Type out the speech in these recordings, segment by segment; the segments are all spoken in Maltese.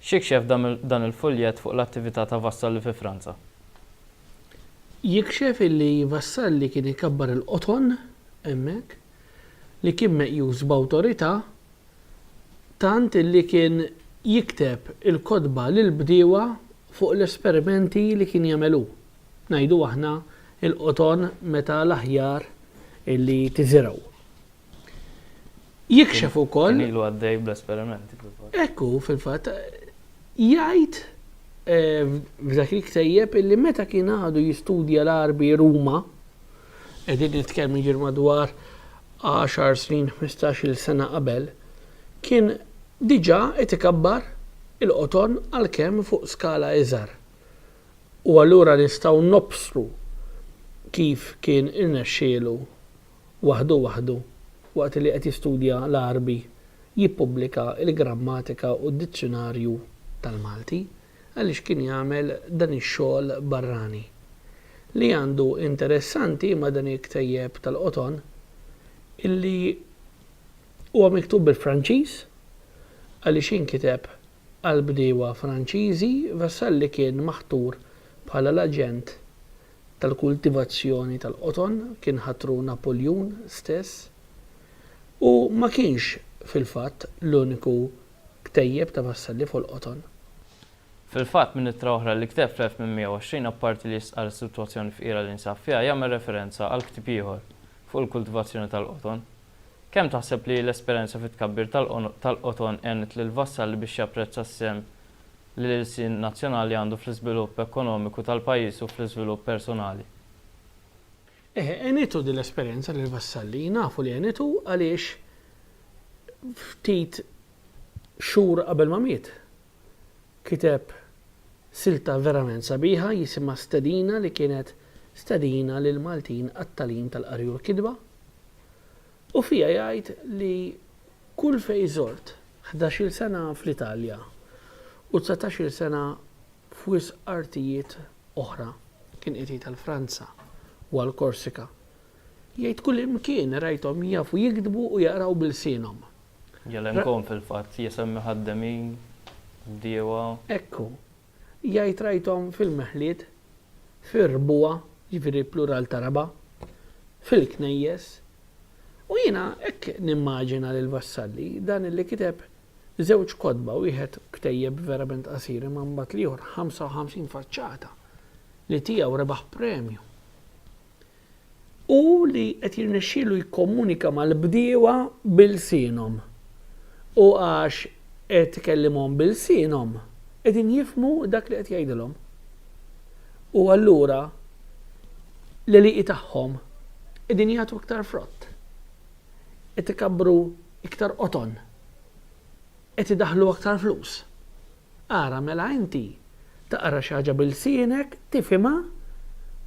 X'jikxef dan il-fuljett fuq l-attività ta' Vassalli fi Franza? Jikxef illi Vassalli kien ikabbar il-qoton hemmhekk, li kien meqjus b'awtorità tant illi kien jikteb il-kotba lill-bdiewa fuq l-esperimenti li kien jagħmel hu. Ngħidu aħna il-qoton meta l-aħjar li tiżirgħu. Jikxef ukoll. Kien ilu għaddej bl-esperimenti fil-fatt. Ekku fil-fatt jgħid eh, f'dak il-ktejjeb illi meta kien għadu jistudja l-arbi Ruma, qegħdin nitkellmu ġir madwar 10 snin 15-il sena qabel, kien diġà qed ikabbar il-qoton għalkemm fuq skala iżgħar. U allura nistgħu nobsru kif kien irnexxielu waħdu waħdu, waqt li qed jistudja l-Għarbi, jippubblika l-Grammatika u d-Dizzjunarju tal-Malti, għaliex kien jagħmel dan ix-xogħol barrani. Li għandu interessanti ma' dan il-ktejjeb tal-qoton illi huwa miktub bil-Franċiż għaliex inkiteb Għall-bdiewa Franċiżi, Vassalli kien maħtur bħala l-aġent tal-kultivazzjoni tal-qoton, kien ħatru Napoljun stess, u ma kienx, fil-fatt, l-uniku ktejjeb ta' Vassalli fuq il-qoton. Fil-fatt, minn ittra oħra li kiteb fl-1820, apparti li jistqarr is-sitwazzjoni fqira li nsab fiha, jagħmel referenza għal ktieb ieħor fuq il-kultivazzjoni tal-qoton. Kemm taħseb li l-esperjenza fit-tkabbir tal-qoton għenet lil Vassalli biex japprezza s-sehem li l-ilsien nazzjonali għandu fl-iżvilupp ekonomiku tal-pajjiż u fl-iżvilupp personali? Eħe, għenitu din l-esperjenza lil Vassalli. Nafu li għenitu għaliex ftit xhur qabel ma miet, Kiteb silta verament sabiħa jisimha Stedina li kienet stedina lill-Maltin għat-tagħlim tal-qari u l-kitba u fiha jgħid li kull fejn żort ħdax-il sena fl-Italja u dsatax-il sena f'wisq artijiet oħra, kien qiegħed jgħid għall-Franza u għall-Korsika, jgħid kullimkien rajthom jafu jiktbu u jaqraw b'ilsienhom. Jelenkon fil-fatt jsemmi ħaddemin, bdiewa. Hekk hu. Jgħid rajthom fil-meħliet, fir-rbuwa, jiġifieri plural ta' raba', fil-knejjes. U jiena hekk nimmaġina lil Vassalli, dan illi kiteb żewġ kotba, wieħed ktejjeb verament qasir imma mbagħad l-ieħor 55 faċċata, li tiegħu rebaħ premju. u li qed jirnexxielu jikkomunika mal-bdiewa b'ilsienhom u għax qed ikellimhom b'ilsienhom qegħdin jifhmu dak li qed jgħidilhom. U allura l-għelieqi tagħhom qegħdin jagħtu iktar frott. Qed ikabbru iktar qoton. Qed idaħħlu aktar flus. Ara mela inti taqra xi ħaġa b'ilsienek, tifhimha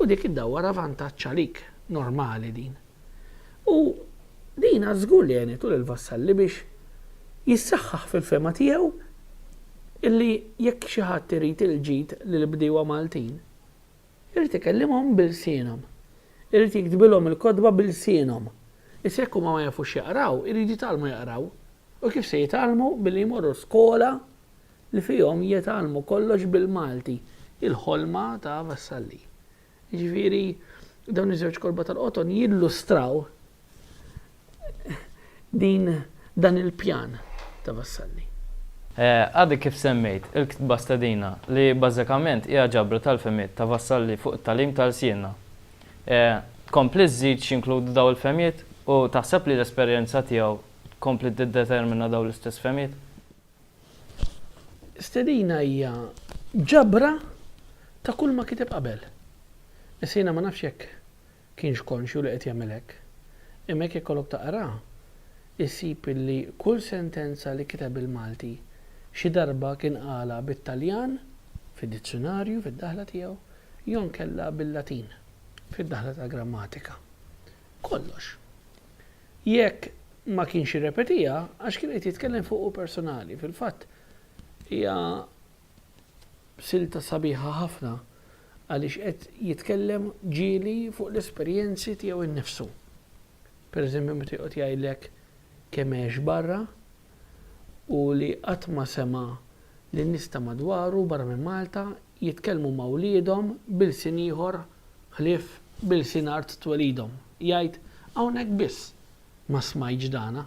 u dik iddawwarha vantaġġ għalik. Normali din. U din għad żgur li għenitu lil Vassalli biex jissaħħaħ fil-fehma tiegħu illi jekk xi ħadd irid il-ġid lill-bdiewa Maltin, Irid ikellimhom b'ilsienhom. Irid jiktbilhom il-kotba b'ilsienhom. Issa jekk huma ma jafux jaqraw, iridu jitgħallmu jaqraw. U kif se jitgħallmu? Billi jmorru skola li fihom jitgħallmu kollox bil-Malti. Il-ħolma ta' Vassalli. Jiġifieri dawn iż-żewġ kotba tal-qoton jillustraw din dan il-pjan ta' Vassalli. Għadek kif semmejt il-ktba Stedina li bażikament hija ġabra tal-fehmiet ta' Vassalli fuq it-tagħlim ta' lsienna. Tkompli żżid x'jinkludu dawn il-fehmiet u taħseb li l-esperjenza tiegħu tkompli tiddetermina dawn l-istess fehmiet? Stedina hija ġabra ta' kulma kiteb qabel. Issa jiena ma nafx jekk kienx konxju li qed jagħmel hekk. Imma jekk ikollok taqra, issib illi kull sentenza li kiteb il-Malti, xi darba kien qalha bit-Taljan, fid-dizzjunarju, fid-daħla tiegħu, jew inkella bil-Latin, fid-daħla tal-grammatika. Kollox. Jekk ma kienx irrepetiha, għax kien qed jitkellem fuqu personali. Fil-fatt, hija Silta sabiħa ħafna għaliex qed jitkellem ġieli fuq l-esperjenzi tiegħu nnifsu. Per eżempju meta joqgħod jgħidlek kemm għex barra u li qatt ma sema' lin-nies ta' madwaru barra minn Malta jitkellmu ma' wliedhom b'ilsien ieħor ħlief b'ilsien art twelidhom. Jgħid, Hawnhekk biss ma smajtx dana.